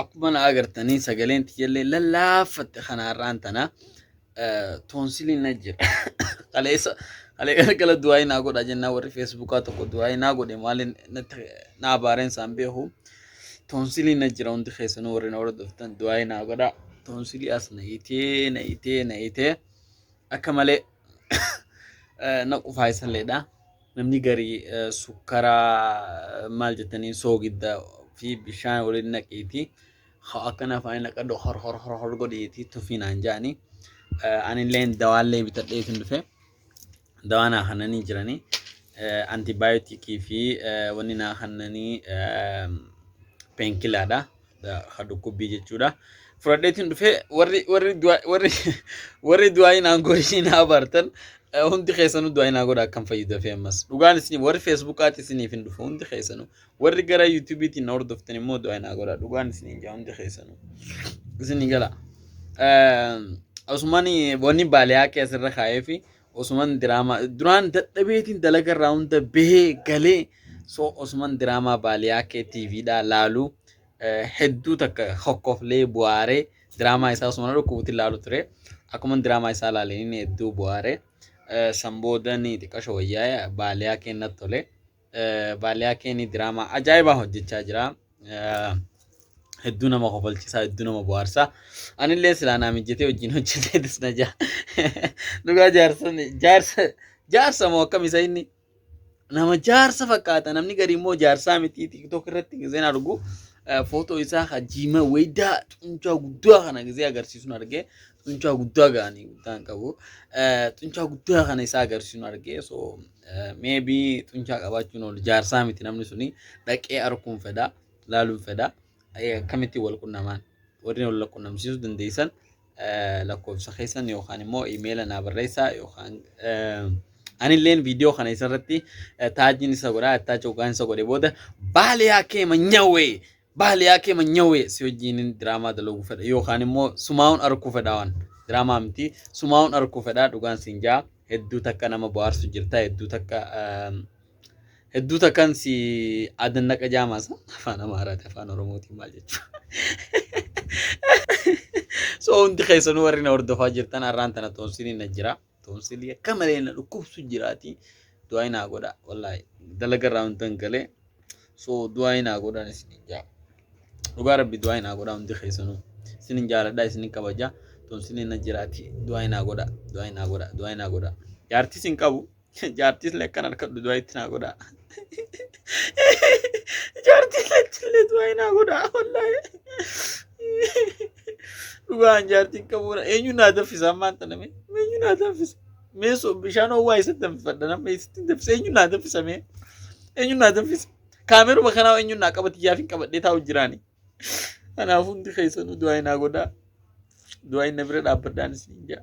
Akkuma na agartanii sagaleen tiyyallee lallaaffatte kana har'aan tana toonsiliin na jira. Kaleessa kalee kana gala du'aayii naa godha jennaa warri feesbuukaa tokko du'aayii naa godhe maaliin naa baareen isaan beeku. Toonsiliin na jira hundi keessanuu warri na hordoftan du'aayii naa godha. Toonsilii as na itee na itee na itee akka malee na qufaa isalleedha. Namni garii sukkaraa maal jettaniin soogidda fi bishaan waliin naqiitii haa akkan afaanii naqadhu hor hor hor hor godhiitii tufii naan jaanii anilleen dawaallee bitadhee isin dhufe dawaa naa kannanii jiranii antibaayotikii fi wanni naa kannanii peenkilaadha. ha dhukkubbii jechuudha. Fudhadheetiin dhufee warri warri du'a- warri warri du'aa'iin aangoo ishii na abaartan eh, hundi keessanuu du'aa'iin haa godha akkan fayyu dafee ammas. Dhugaan isin warri feesbuukaatti isiniif hin dhufu hundi keessanuu warri gara yuutuubiitiin na hordoftan immoo du'aa'iin haa godha dhugaan isin hin jaa hundi keessanuu. Isin hin gala. Eh, Osumani wanni baaliyaa keessarra kaa'ee fi Osuman diraamaa duraan dadhabeetiin dalaga irraa hunda bahee galee so osuman diraamaa baaliyaa kee tiiviidhaa laalu hedduu takka hokkoflee bu'aaree diraamaa isaa osuma dhukkubuutiin laalu ture akkuman diraamaa isaa laaleen inni hedduu bu'aaree san booda ni xiqqasho wayyaa baaliyaa keenna tole. Baaliyaa Keenii diraamaa ajaa'ibaa hojjechaa jira. Hedduu nama kofalchisaa, hedduu nama bohaarsaa. Anillee silaa naa mijjatee wajjin hojjetee disna jaa. Dhugaa jaarsan jaarsa jaarsa moo akkam isa inni? Nama jaarsa fakkaata namni gari immoo jaarsaa miti tiktok irratti gizeen argu footoo isaa hajiima weeddaa xunchaa guddaa kana gizee agarsiisuun argee xunchaa guddaa ga'anii guddaan qabu xunchaa guddaa kana isaa agarsiisuun argee so Maybe xunchaa qabaachuun ol jaarsaa miti namni suni dhaqee arkuun fedha laaluun fedha Eh, akkamitti wal qunnamaan warri wal qunnamsiisuu dandeessan eh, lakkoofsa keessan yookaan immoo imeela naa barreessaa yookaan eh, anilleen viidiyoo kana isarratti eh, taajiin isa godhaa taaji hoggaan isa godhe booda baaliyaa kee manyawee Bahal yaa keema nyawee si wajjiinin diraamaa dalaguu fedha yookaan immoo sumaa'uun arkuu fedha waan diraamaa miti sumaa'uun arkuu fedha dhugaan siin jaa hedduu takka nama bohaarsu jirta hedduu takka hedduu takkan si adannaqa jaamaasa afaan amaaraati afaan oromootiin maal jechuudha so hundi keessanuu warri na hordofaa jirtan har'aan tana xoonsiin na jira Toonsilii akka malee na dhukkubsu jiraati. Du'aa naa godha wallaahi dalaga irraa hundan galee so du'aa naa godha isin jaa. Dhugaa rabbi du'aa naa godha hundi keessanuu. Isin jaaladha isin kabaja toonsilii na jiraati du'aa naa godha du'aa naa godha du'aa naa godha. Jaartis hin qabu jaartis illee akkan harkadhu du'aa itti naa godha. Jaartis illee du'aa naa godha wallaahi. Dhugaan jaartiin qabuudha. Eenyu naa danfisa ammaan tana mee? Eenyu naa danfisa? Mee so bishaan ho'aa eessatti danfifadha? Namni eessatti hin danfisa? Eenyu naa danfisa mee? Eenyu naa danfisa? Kaameruma kanaa eenyu naa qabati jaafin qabadhee taa'u jiraani. Kanaaf hundi keessanuu du'aa hin haa godhaa. Du'aa hin na bira dhaabbadhaan isin hin jaa.